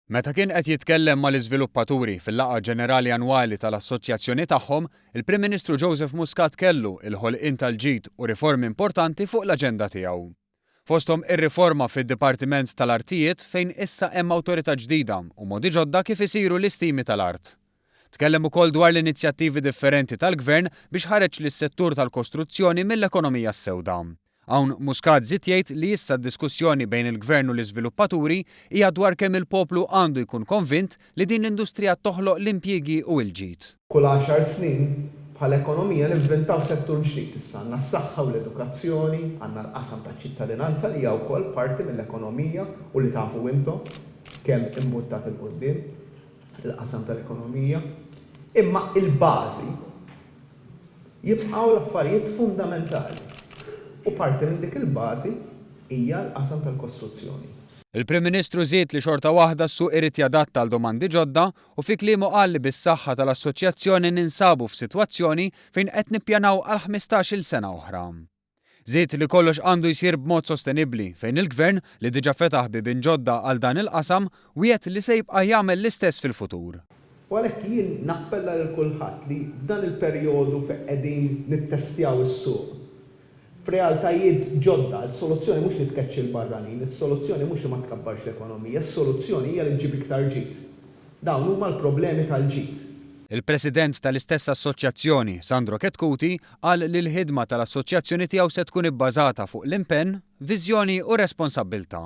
Meta kien qed jitkellem mal-iżviluppaturi fil-laqgħa ġenerali annwali tal-assoċjazzjoni tagħhom, il-Prim Ministru Joseph Muscat kellu l-ħolqien tal-ġid u riformi importanti fuq l-aġenda tiegħu. Fosthom ir-riforma fid-Dipartiment tal-Artijiet fejn issa hemm awtorità ġdida u modi ġodda kif isiru l-istimi tal-art. Tkellem ukoll dwar l-inizjattivi differenti tal-Gvern biex ħareġ lis-settur tal-kostruzzjoni mill-ekonomija s-sewda. Hawn Muscat żied jgħid li issa d-diskussjoni bejn il-Gvern u l-iżviluppaturi hija dwar kemm il-poplu għandu jkun konvint li din l-industrija toħloq l-impjiegi u il-ġid. Kull għaxar snin, bħala ekonomija ninventaw settur ġdid. Issa għandna s-saħħa u l-edukazzjoni, għandna l-qasam taċ-ċittadinanza li hija wkoll parti mill-ekonomija u li tafu intom kemm imbuttat 'il quddiem. l-qasam tal-ekonomija, imma il-bażi jibqgħu l-affarijiet fundamentali u parti minn dik il-bażi hija l-qasam tal-kostruzzjoni. Il-Prim Ministru żied li xorta waħda s-suq irid jadatta għal domandi ġodda u fi kliemu qal li bis-saħħa tal-Assoċjazzjoni ninsabu f'sitwazzjoni fejn qed nippjanaw għal ħmistax-il sena oħra. Żied li kollox għandu jsir b'mod sostenibbli fejn il-Gvern, li diġà fetaħ biebien ġodda għal dan il-qasam, wiegħed li se jibqa' jagħmel l-istess fil-futur. U għalhekk jien nappella lil kulħadd li f'dan il-perjodu fejn qegħdin nittestjaw is-suq f'realtajiet ġodda, is-soluzzjoni mhux li tkeċċi l-barranin, is-soluzzjoni mhux li ma tkabbarx l-ekonomija, is-soluzzjoni hija li ġġib iktar ġid. Dawn huma l-problemi tal-ġid. Il-President tal-istess assoċjazzjoni, Sandro Chetcuti, qal li l-ħidma tal-Assoċjazzjoni tiegħu se tkun ibbażata fuq l-impenn, viżjoni u responsabbiltà.